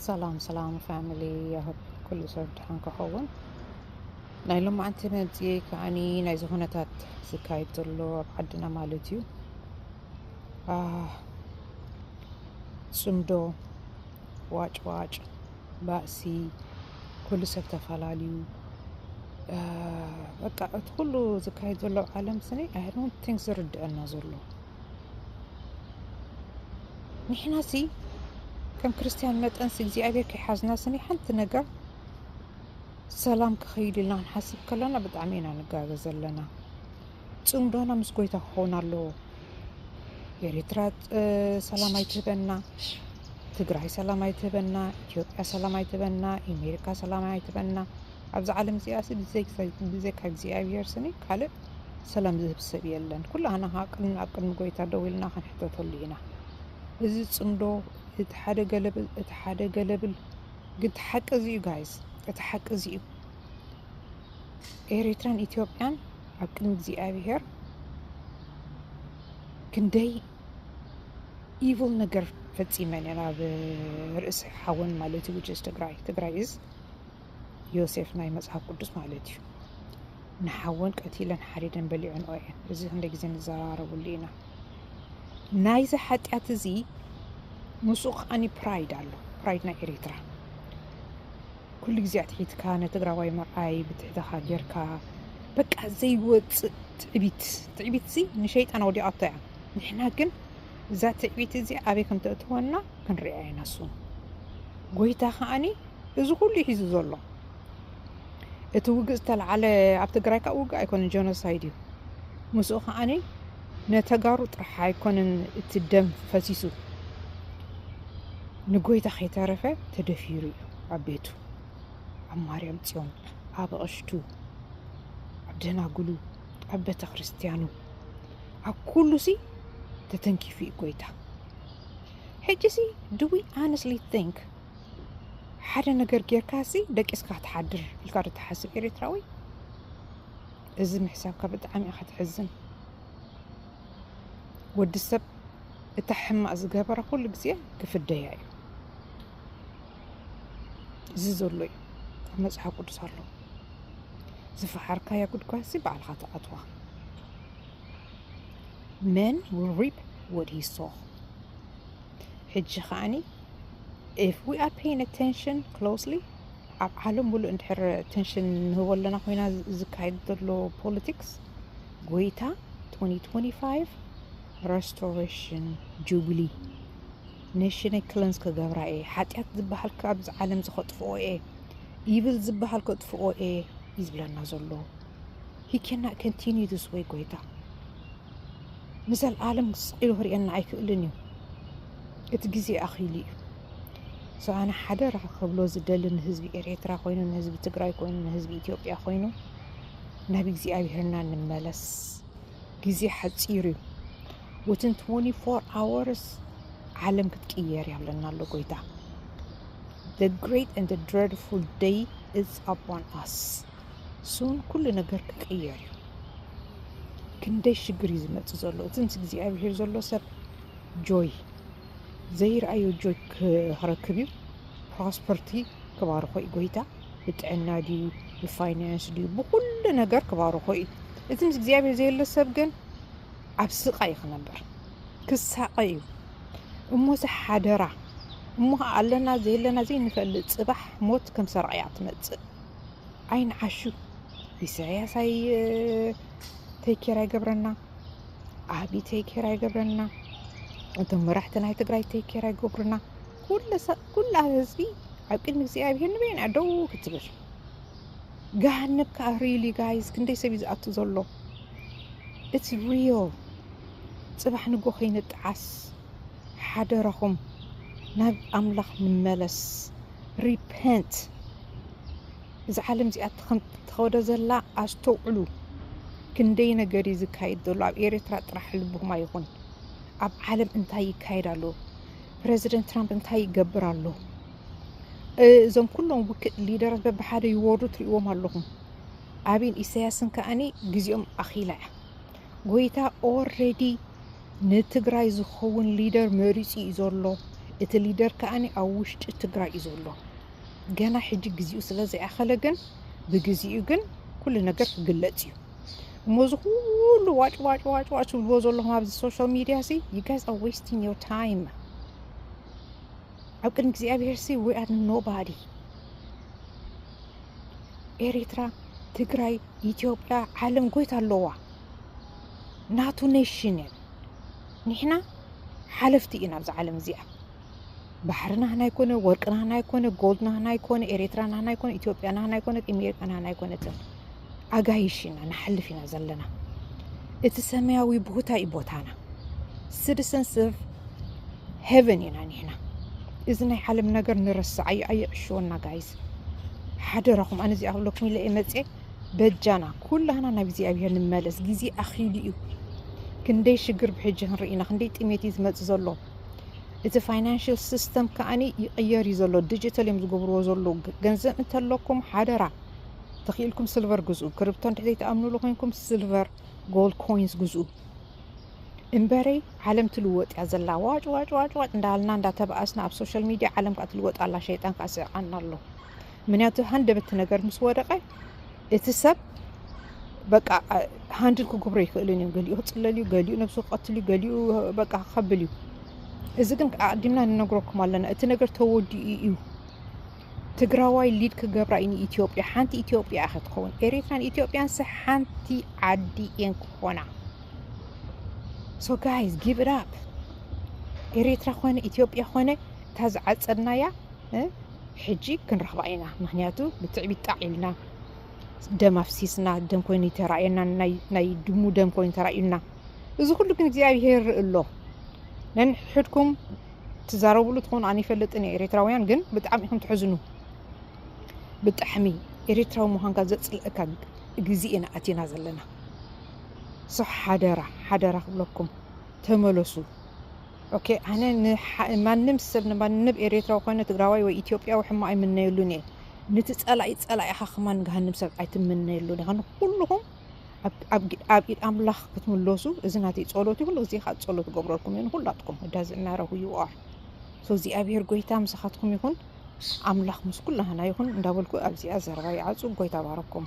ሰላም ሰላም ፋሚሊ ያህብ ኩሉ ሰብ ድሓን ክኸውን ናይ ሎማዓንቲ መምፅኤ ከዓኒ ናይዚ ኩነታት ዝካየድ ዘሎ ኣብ ዓድና ማለት እዩ ጽምዶ ዋጭዋጭ ባእሲ ኩሉ ሰብ ተፋላልዩ በቃ እቲ ኩሉ ዝካየድ ዘሎ ኣብ ዓለም ስኒ ኣይ ዶንት ቲንክ ዝርድአና ዘሎ ንሕና ሲ ከም ክርስትያን መጠን ሲ እግዚኣብሔር ከይሓዝና ስኒ ሓንቲ ነገር ሰላም ክኸይድ ኢልና ንሓስብ ከለና ብጣዕሚ ኢና ንጋገ ዘለና ፅምዶና ምስ ጎይታ ክኸውን ኣለዎ። ኤሪትራ ሰላም ኣይትህበና፣ ትግራይ ሰላም ኣይትህበና፣ ኢትዮጵያ ሰላም ኣይትህበና፣ ኢሜሪካ ሰላም ኣይትህበና። ኣብዚ ዓለም እዚኣሲ ብዘካ እግዚኣብሔር ስኒ ካልእ ሰላም ዝህብ ሰብ የለን። ኩላህና ከዓ ቅድሚ ኣብ ቅድሚ ጎይታ ደው ኢልና ክንሕተተሉ ኢና። እዚ ፅምዶ እቲ ሓደ ገለብል እቲ ሓደ ገለብል ግን እቲ ሓቂ እዚ እዩ ጋይስ፣ እቲ ሓቂ እዚ እዩ። ኤሪትራን ኢትዮጵያን ኣብ ቅድሚ እግዚኣብሄር ክንደይ ኢቭል ነገር ፈጺመን እየን ኣብ ርእሲ ሓወን ማለት እዩ ውጭስ ትግራይ ትግራይ እዝ ዮሴፍ ናይ መጽሓፍ ቅዱስ ማለት እዩ ንሓወን ቀቲለን ሓሪደን በሊዐን እየን እዚ ክንደ ግዜ ንዘራረብሉ ኢና ናይዚ ሓጢኣት እዚ ምስኡ ከዓኒ ፕራይድ ኣሎ ፕራይድ ናይ ኤሪትራ ኩሉ ግዜ ኣትሒትካ ንትግራዋይ ምርኣይ ብትሕተኻ ጌርካ በቃ ዘይወፅእ ትዕቢት ትዕቢትሲ ንሸይጣን ወዲቓቶ እያ ንሕና ግን እዛ ትዕቢት እዚኣ ኣበይ ከም ተእትወና ክንሪኣ ኢና ሱ ጎይታ ከዓኒ እዚ ኩሉ እዩ ሒዙ ዘሎ እቲ ውግእ ዝተለዓለ ኣብ ትግራይ ካብ ውግእ ኣይኮነን ጀኖሳይድ እዩ ምስኡ ከዓኒ ነተጋሩ ጥራሕ ኣይኮነን እቲ ደም ፈሲሱ ንጎይታ ከይተረፈ ተደፊሩ እዩ ኣብ ቤቱ ኣብ ማርያም ጽዮን ኣብ ኣቕሽቱ ኣብ ደናግሉ ኣብ ቤተ ክርስቲያኑ ኣብ ኩሉሲ ተተንኪፉ እዩ ጎይታ ሕጂሲ ዱ ዊ ኣነስሊ ቲንክ ሓደ ነገር ጌርካሲ ደቂስካ ትሓድር ኢልካ ዶ ትሓስብ ኤርትራዊ እዚ ምሕሳብካ ብጣዕሚ ኢኻ ትሕዝን ወዲ ሰብ እታ ሕማቅ ዝገበረ ኩሉ ግዜ ክፍደያ እዩ እዚ ዘሎ እዩ ኣብ መፅሓፍ ቅዱስ ኣሎ ዝፈሓርካያ ጉድጓድ ሲ ባዕልኻ ትኣትዋ መን ዊል ሪፕ ወድ ሂ ሶ ሕጂ ከዓኒ ኢፍ ዊ ኣር ፔይን ኣቴንሽን ክሎስሊ ኣብ ዓለም ሙሉእ እንድሕር ኣቴንሽን ንህቦ ኣለና ኮይና ዝካየድ ዘሎ ፖለቲክስ ጎይታ 2025 ረስቶሬሽን ጁብሊ ነሽነይ ክለንስ ክገብራ እየ ሓጢኣት ዝበሃል ካብዚ ዓለም እዚ ከጥፍኦ እየ ይብል ዝበሃል ከጥፍኦ እየ እዩ ዝብለና ዘሎ ሂ ኬና ከንቲኒ ስ ወይ ጎይታ ንዘለኣለም ስቂሉ ክርእየና ኣይክእልን እዩ እቲ ግዜ ኣኺሉ እዩ ሰኣነ ሓደራ ክብሎ ዝደሊ ንህዝቢ ኤርትራ ኮይኑ ንህዝቢ ትግራይ ኮይኑ ንህዝቢ ኢትዮጵያ ኮይኑ ናብ እግዚኣብሄርና ንመለስ ግዜ ሓጺር እዩ ውትን ትወኒ ፎር ኣወርስ ዓለም ክትቅየር እያ ኣለና ኣሎ ጎይታ the great and the dreadful day is upon us ሱን ኩሉ ነገር ክቅየር እዩ ክንደይ ሽግር እዩ ዝመፅእ ዘሎ እቲ ምስ እግዚኣብሄር ዘሎ ሰብ ጆይ ዘይረኣዮ ጆይ ክረክብ እዩ ፕሮስፐርቲ ክባርኾ እዩ ጎይታ ብጥዕና ድዩ ብፋይናንስ ድዩ ብኩሉ ነገር ክባርኮ እዩ እቲ ምስ እግዚኣብሔር ዘየለ ሰብ ግን ኣብ ስቃ እዩ ክነበር ክሳቀ እዩ እሞዚ ሓደራ እሞ ከዓ ኣለና ዘየለና ዘይንፈልጥ ፅባሕ ሞት ከም ሰርቂ እያ ትመፅእ ዓይንዓሹ ኢሳያስ ኣይ ተይኬር ኣይገብረና ዓቢ ተይኬር ኣይገብረና እቶም መራሕቲ ናይ ትግራይ ተይኬር ኣይገብሩና ኩላ ህዝቢ ኣብ ቅድሚ እግዚኣብሄር ንበይና ደው ክትብል ገሃነብ ከዓ ሪሊ ጋይዝ ክንደይ ሰብ እዩ ዝኣቱ ዘሎ እቲ ሪዮ ፅባሕ ንጎ ከይንጠዓስ ሓደራኹም ናብ ኣምላኽ ንመለስ ሪፐንት እዚ ዓለም እዚኣ ተኸዶ ዘላ ኣስተውዕሉ ክንደይ ነገር እዩ ዝካየድ ዘሎ ኣብ ኤርትራ ጥራሕ ልብኹም ኣይኹን ኣብ ዓለም እንታይ ይካየድ ኣሎ ፕረዚደንት ትራምፕ እንታይ ይገብር ኣሎ? እዞም ኩሎም ውክእ ሊደራት በብሓደ ይወርዱ ትሪእዎም ኣለኹም። ኣብን ኢሳያስን ከኣኒ ግዜኦም ኣኺላ እያ። ጎይታ ኦረዲ ንትግራይ ዝኸውን ሊደር መሪፁ እዩ ዘሎ። እቲ ሊደር ከኣኒ ኣብ ውሽጢ ትግራይ እዩ ዘሎ። ገና ሕጂ ግዜኡ ስለ ዘይኣኸለ ግን ብግዜኡ ግን ኩሉ ነገር ክግለፅ እዩ። እሞ እዚ ኩሉ ዋጭ ዋጭ ዋጭ ዋጭ ትብልዎ ዘለኹም ኣብዚ ሶሻል ሚድያ ሲ ዩ ጋይስ ኣር ዌስቲንግ ዮር ታይም ኣብ ቅድሚ እግዚኣብሄር ሲ ዊ ኣር ኖባዲ ኤሪትራ ትግራይ ኢትዮጵያ ዓለም ጎይታ ኣለዋ ናቱ ኔሽን እየን ንሕና ሓለፍቲ ኢና ኣብዚ ዓለም እዚኣ ባሕሪ ናህና ኣይኮነ፣ ወርቂ ናህና ኣይኮነ፣ ጎልድ ናህና ኣይኮነ፣ ኤሬትራ ናህና ኣይኮነ፣ ኢትዮጵያ ናህና ኣይኮነት፣ ኢሜሪካ ናህና ኣይኮነትን። ኣጋይሽ ኢና ንሓልፍ ኢና ዘለና። እቲ ሰማያዊ ቦታ እዩ ቦታና። ሲቲሰንስ ኦፍ ሄቨን ኢና ኒሕና። እዚ ናይ ዓለም ነገር ንረስዕ ኣዩ ኣየዕሽወና ጋይዝ ሓደራኹም። ኣነ እዚኣ ክብለኩም ኢለ መፀ በጃና ኩላህና ናብ እግዚኣብሄር ንመለስ። ግዜ ኣኺሉ እዩ። ክንደይ ሽግር ብሕጂ ክንርኢ ኢና። ክንደይ ጥሜት እዩ ዝመፅ ዘሎ። እቲ ፋይናንሽል ሲስተም ከኣ ይቅየር እዩ ዘሎ ድጅተል እዮም ዝገብርዎ ዘለዉ ገንዘብ እንተለኩም ሓደራ ተኺኢልኩም ስልቨር ግዝኡ ክርብቶ እንድሕ ዘይትኣምንሉ ኮንኩም ስልቨር ጎልድ ኮይንስ ግዝኡ እምበረይ ዓለም ትልወጥ እያ ዘላ ዋጭ ዋጭ ዋጭ ዋጭ እንዳልና እንዳተባኣስና ኣብ ሶሻል ሚድያ ዓለም ከዓ ትልወጥ ኣላ ሸይጣን ከዓ ስዕቃና ኣሎ ምክንያቱ ሃንደበቲ ነገር ምስ ወደቀ እቲ ሰብ በቃ ሃንድል ክግብሮ ኣይክእልን እዩ ገሊኡ ክፅለል እዩ ገሊኡ ነብሱ ክቐትል እዩ ገሊኡ በቃ ክኸብል እዩ እዚ ግን ኣቅዲምና ንነግረኩም ኣለና እቲ ነገር ተወዲኡ እዩ ትግራዋይ ሊድ ክገብራ እዩ ንኢትዮጵያ ሓንቲ ኢትዮጵያ እያ ክትኸውን ኤሪትራን ኢትዮጵያን ስ ሓንቲ ዓዲ እየን ክኾና ሶ ጋይዝ ጊቭ ኢት ኣፕ ኤሪትራ ኮነ ኢትዮጵያ ኮነ እታ ዝዓፀድናያ ሕጂ ክንረኽባ ኢና ምክንያቱ ብትዕቢት ጣዕ ኢልና ደም ኣፍሲስና ደም ኮይኑ ተራእየና ናይ ድሙ ደም ኮይኑ ተራእዩና እዚ ኩሉ ግን እግዚኣብሄር ይርኢ ኣሎ ነንሕድኩም ትዛረብሉ ትኾኑ ኣነ ይፈልጥን እየ ኤርትራውያን ግን ብጣዕሚ ኢኹም ትሕዝኑ ብጣዕሚ ኤርትራዊ ምዃንካ ዘፅልእካ ግዜ ኢና ኣቲና ዘለና ሶ ሓደራ ሓደራ ክብለኩም ተመለሱ ኦኬ ኣነ ንማንም ሰብ ንማንም ኤሬትራዊ ኮነ ትግራዋይ ወይ ኢትዮጵያዊ ሕማቅ ኣይምነየሉን እየ ንቲ ጸላኢ ጸላኢ ኢካ ከማን ገሃንም ሰብ ኣይትምነየሉን ኢካ ንኩሉኩም ኣብ ኢድ ኣምላክ ክትምለሱ እዚ ናተይ ጸሎት ይኩን እዚ ከኣ ጸሎት ገብረልኩም እየ ንኩላትኩም it doesn't matter who you are so እግዚኣብሄር ጎይታ ምሳካትኩም ይኩን ኣምላክ ምስ ኩላህና ይኩን እንዳበልኩ ኣብዚኣ ዘረባ ይዓጹ ጎይታ ባረኩም